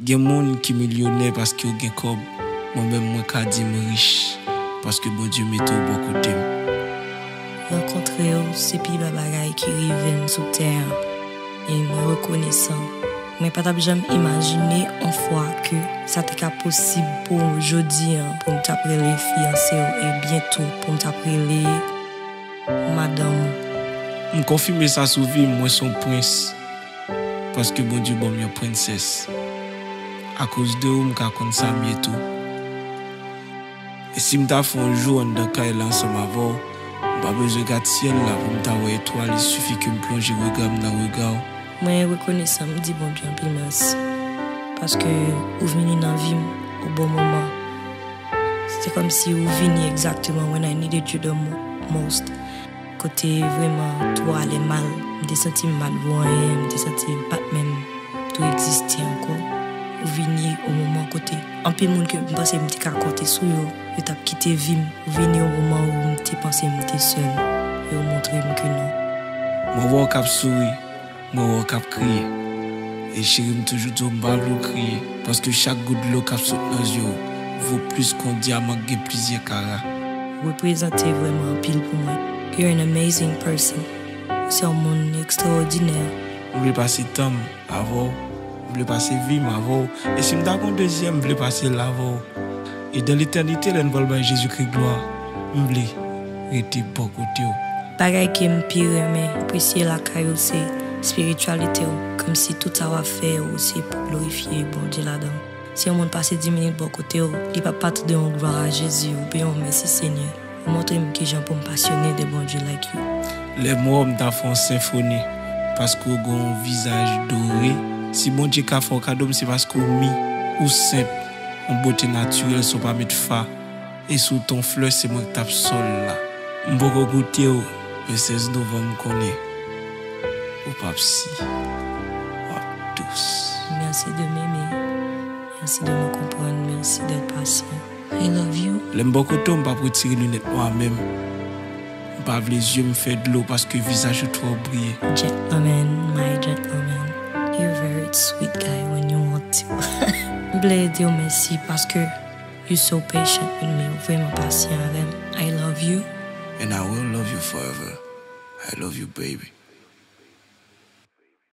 Gen moun ki milyonè paske yo gen kòb, mwen menm mwen ka di m rich paske Bondye mete w bò kote m. Rankontre w se pi bè bagay ki rive m sou tè an e mwen rekonesan. Mwen pa t ap janm imajine on fwa ke sa te ka posib pou jodi an pou m t ap rele fiyanse w e byento pou m t ap rele madanm ou. M konfime sa sou vi m, mwen s on prens. Paske Bondye banm yon princess Akoz de ou m ka konn sam ye tou E sim ta fè yon jou anndan kay la ansanm avèw M pa bezwen gad syèl la poum ta wè etwal il suffit kem plonje regam nan regaw. Mwen rekonesan m di Bondye anpil mèsi paske ou vini nan vim o bon moman se kòmsi ou vini exactement when I needed you the most. Kote vreman tou ale mal, m te santi m pat vo anyen, m te santi m pat menm tou egziste ankò. Ou vini o moman kote anpil moun ke m panse m te ka konte sou yo, yo tap kite vi m. Ou vini o moman ou m te panse m te sèl, e ou montre m ke non. Mwen wè w kap souri. Mwen wè w kap kriye e cheri m toujou di w m pa vle w kriye paske chak gout dlo kap sot nan je w vo plis ke yon dyaman k gen plizyè kara. reprezante vrèman anpil pou mwen you're an amazing person ou se yon moun extraordinaire. M vle pase tan m avè w m vle pase vi m avè w e si m ta gen yon dezyèm m vle pase l avè w. E dan letènite lè n pral bay Jezikri glwa, m vle rete bò kote w. Bagay ke m pi renmen apresye lakay ou se espirityalite w, kòmsi tout sa w ap fè yo se pou glorifye Bondye ladan. Si yon moun pase di minit bò kote w, li pa pa tande yon glwa a Jezi oubyen yon mèsi Senyè, ou montre m kijan pou m pasyone de Bondye like you. Lè m wè w m ta fè yon senfoni paske w gen yon vizaj dore. Si Bondye ka fè w kado m se paske w mi, ou senp. Yon bote natirèl san w pa met fa E si w t on flè se mwen k t ap sò l la M poko goute w men 16 novanm m konnen Ou p ap si w ap dous. Merci de m'aimer Merci de me comprendre Merci d'être patient I love you. Lè m bò kote w m p ap retire linèt nwa menm. M pa vle yeux m fè dlo paske visaj ou twò briye. Gentleman my gentleman you very sweet guy when you want to m vle diw mèsi paske you so patient with me ou vreman pasyan avèm I love you. And I will love you forever I love you baby.